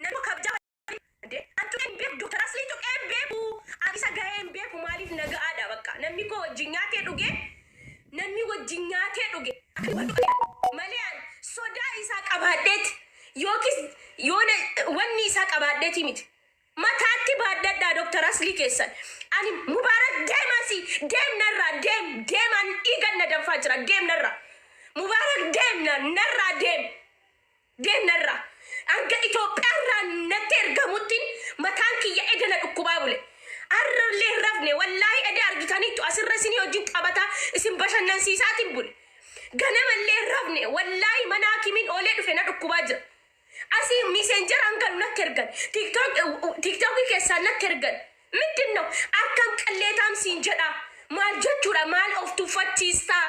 Nama kabjaa Ande, an tuqee hin beeku, Dr. Asliin tuqee hin beeku, an isa gahee hin beeku, maaliif na ga'aadha bakka. Namni koo wajjin nyaatee dhuge, namni wajjin nyaatee dhuge, akka wal tuqeedha. Malee an sodaa isaa qabaadheeti, yookiis yoona wanni isaa qabaadheeti miti. Mataatti baadhadhaa Dr. Aslii keessan. Ani Mubaarak deemasi, deem narraa, deem, deem, an dhiigan na danfaa jira, deem narraa. Mubaarak deem na, narraa deem. Geenna irraa. Hanga Itoophiyaa irraa natti ergamuttin mataan kiyya eda na dhukkubaa bule. Arra illee hin rafne. Wallaahi eda argitaniittu asirra isinii wajjin taphataa isin bashannansiisaatiin bule. Ganama illee hin rafne. Wallaahi mana hakimiin oolee dhufe na dhukkubaa jira. Asii miiseenjaraan galu natti ergan. Tiktok- Tiktokii keessaan natti ergan. Middin noo akkam qalleetaam siin jedhaa. Maal jechuudha maal of tuffachiistaa.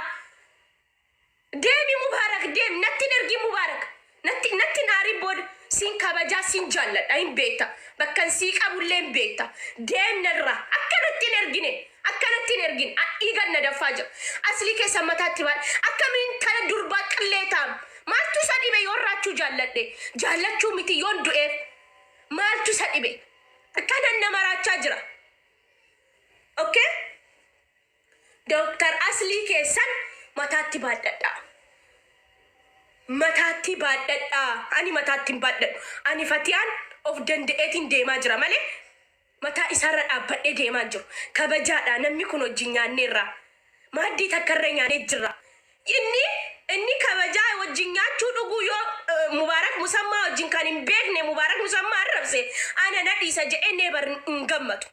Deemi Mubaarak deemi natti hin ergin Mubaarak natti natti hin aarin booda sin kabajaa sin jaalladha hin beekta bakkan sii qabullee hin beekta deem narraa akka natti hin ergine akka natti hin ergin a- dhiigan na daffaa jira aslii keessan mataatti baal akkamiin tana durbaa qillee taam maaltu isa dhibe yoon raachuu jaalladhe jaallachuu miti yoon du'eef maaltu isa dhibe akkanan na maraachaa jira okay Doktar aslii keessan mataatti baadhadhaa. Mataattii baadhadhaa ani mataatti hin baadhadhu ani fatiyaan of danda'eetiin deemaa jira malee mataa isaarra dhaabbadhee deemaa hin jiru kabajaadha namni kun wajjin nyaanneerra maaddii takkarra nyaanee jirra inni inni kabajaa wajjin nyaachuu dhuguu yoo eh, mubaarak musammaa wajjin kan hin beekne mubaarak musammaa arrabse ana na dhiisa jedhee neebar hin gammadu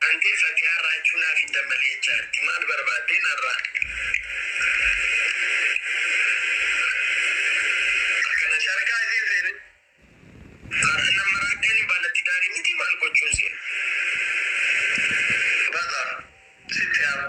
Antee fatiyaa raachuu naaf hin dammalee jaarti maal barbaaddee narraa akkana sharkaa isiin seene har'a nan maraadheeni baala tidaarii mitii maal gochuun seene basaa sitti haa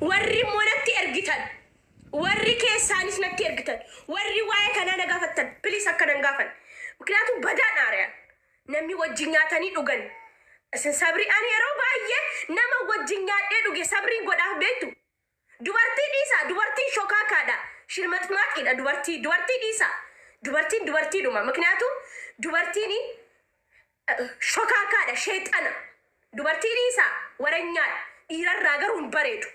Warri immoo natti ergitan, warri keessaanis natti ergitan, warri waa'ee kanaa na gaafattan, please akkana hin gaafanne. Mikniyaatum badaa dha ari'an. Namni wajjin nyaatanii dhugan isin sabrii ani yeroo baay'ee nama wajjin nyaadhee dhuge sabrii godhaaf beektu. Dubartii dhiisaa dubartiin shokaaka dha, shirmaxmaaxii dha dubartii, dubartii dhiisaa. Dubartiin dubartii dhuma. Mikniyaatum dubartiin Shokaakaadha sheexana. Dubartii dhiisaa waranyaadha. Dhiirarraa garuu hin bareedu.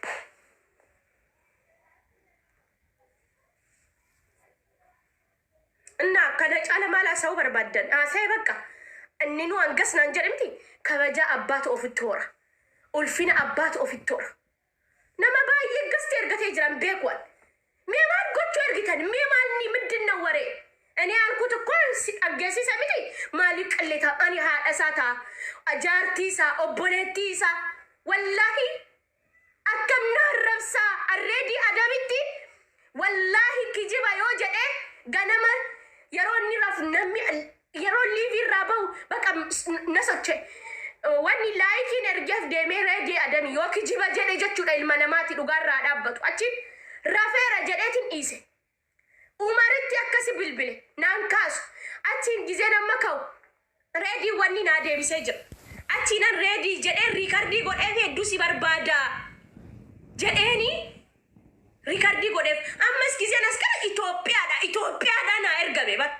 Innaa kana caala maal haasa'uu barbaaddan? Haasa'e bakka. Inni nu hangas naan jedhe miti. Kabajaa abbaatu ofitti hora. Ulfina abbaatu ofitti hora. Nama baay'ee gifti ergatee jira hin beeku ani. Mee maal gochuu ergitan? Mee maal ni middin na waree? Ani yaalkut koo si dhaggeessisa miti maaliif qilleeta? Ani haadha isaa ta'a, jaartii isaa, obboleettii isaa. Wallaahi akkam na arrabsaa arreedii adamitti wallaahi kijiba yoo jedhee ganama yeroo inni rafu namni Yeroon liivii irraa bahu baqa na soche. Wanni laayikiin ergeef deemee reedii adami yoo kijiba jedhe jechuudha ilma namaati dhugaa irraa dhaabbatu. Achi rafeera jedheetiin dhiise. Umaritti akkasi bilbile naan kaasu. Achiin gizeen amma ka'u reedii wanni naa deebisee jira. Achiinan reedii jedhee riikardii godheef hedduu si barbaada jedheeni riikardii godheef. Ammas gizeen as gara Itoophiyaadha Itoophiyaadha naa ergame bara.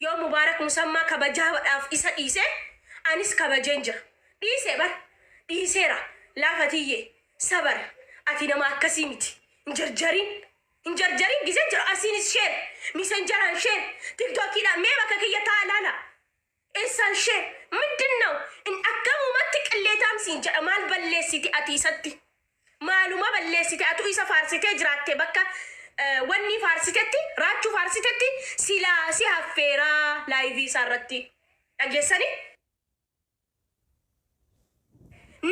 Yoo Mubaarak Musammaa kabajaadhaaf isa dhiise, anis kabajeen jira. Dhiise bar! Dhiiseera! Laa Fatiyyee! Sabar! Ati nama akkasii miti. Hin jarjarin! Hin jarjarin! Gizeen jira! Asiinis share! Misenjaraan share! Tiktokiidhaan mee bakka kiyya taa'aa ilaala! Eessaan share! Mindinnaw! In akkamumatti qilleetaam siin jedha maal balleessiti ati isatti? Maaluma balleessite atu isa faarsitee jiraatte bakka wannii faarsitetti raachuu faarsitetti silaa si haffeeraa live isaa irratti dhageessanii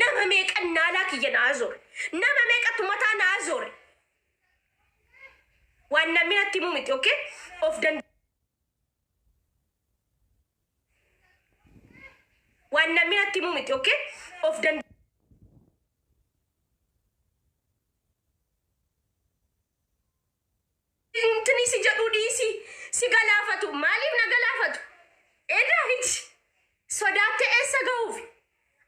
nama meeqan naalaa kiyya naa zoore nama meeqatu mataa naa zoore waan namni natti himuu miti okay of danda Waan namni natti himuu miti okay? Of dand Intini si jedhu dhiisi si galaafatu maaliif na galaafatu? Edaa hiti sodaatte eessa gahuuf?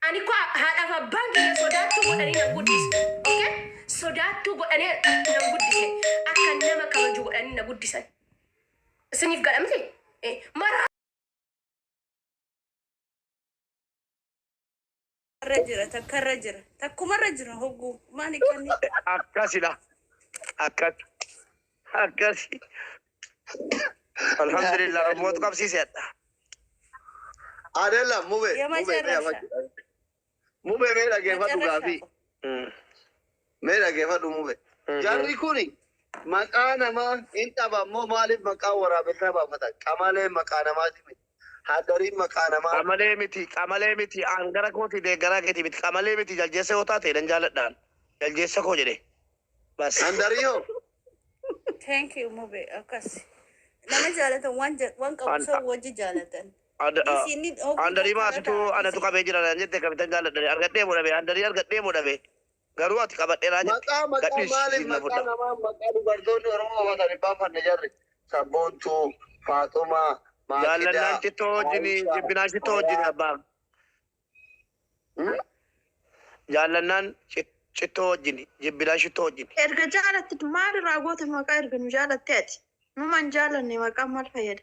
Ani ko haadhaaf abbaan kiyya sodaattuu godhanii nan guddise okay? Sodaattuu godhanii nan guddise akka nama kabaju godhanii na guddisan. Isiniif gala miti? Eh, Mara Irra jira takka irra jira takkuma irra jira hogguu maani kanni Akkasidha. Akkas. Akkas. Alhamdulillah rabbuutu qabsiiseedha. Adela, mube. Yama mube, me, jarrasha. ama- Mube mee dhageefadhu gaafii. Mee dhageefadhu mube. Jarri kuni maqaa namaa hin dhaban moo maaliif maqaa waraabessaa baafatan? Qamaleen maqaa namaati miti. Haddariin maqaa namaa. Qamalee miti, qamalee miti, aan gara kooti deeggaraa keeti miti, qamalee miti, jaljeessa yoo taate nan jaaladhaan. Jaljeessa koo jedhe. Bas. Handarii hoo? Thank you mube akkas. Nama jaalatan waan ja- waan qabu An- san wajji jaalatan. Ad, a, Dhiisi inni dhoofuu Andarii maa situ fakkaata anatu dhiisi. qabee jira naan jette akkamitan jaalladhani argadhee moo dhabe Andarii argadhee moo dhabe garuu ati qabadheraa jette Maqaa maqaa gadhiisi maaliif siif na maqaa fudha. namaa maqaa dubartoonni Oromoo qabatan hin baaffanne jarri. Sabboontuu, Faaxumaa, Maakidaa, Jaallannaan shittoo wajjini Aayishaa, jibbinaan shittoo wajjini Fayaa. abbaa. Hmm? Jaallannaan shit- shittoo wajjini jibbinaan shittoo wajjini. Erga jaalatte maal irraa goota maqaa erga nu jaalatte ati. Numan jaalanne maqaan maal fayyada?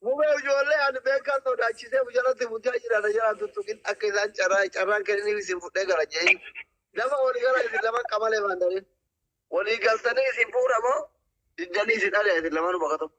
Mubee ijoollee ani beekaan sodaachisee mucaratti bulchaa jira na jalaa tuttuqin akka isaan carraa carraan kenniif isin fudhee gara je'in lafa walii gara isin laman qamalee waan ta'eef walii galtanii isin fuudha moo diddanii isin ari'a isin lamanuu bakka tokko.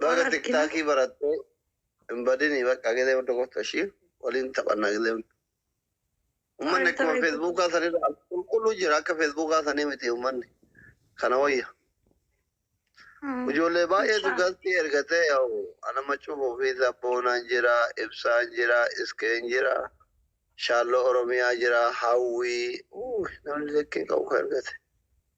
Baga Waan arginu. tiktaakii barattee hin badini bakka gilee hunda goota ishii waliin taphannaa gilee hunda. Ummanni Waan akkuma ta'eef- feesbuukaa sanirra qulqulluu jira akka feesbuukaa sanii miti ummanni kana wayya. Mm. Ijoollee baay'eetu Ibsaa. galtii ergatee yaa'u ana macuuf ofii sabboonaan jira ibsaan jira iskeen jira shaalloo oromiyaa jira hawwii Uuu, namni likkii qabu kan ergate.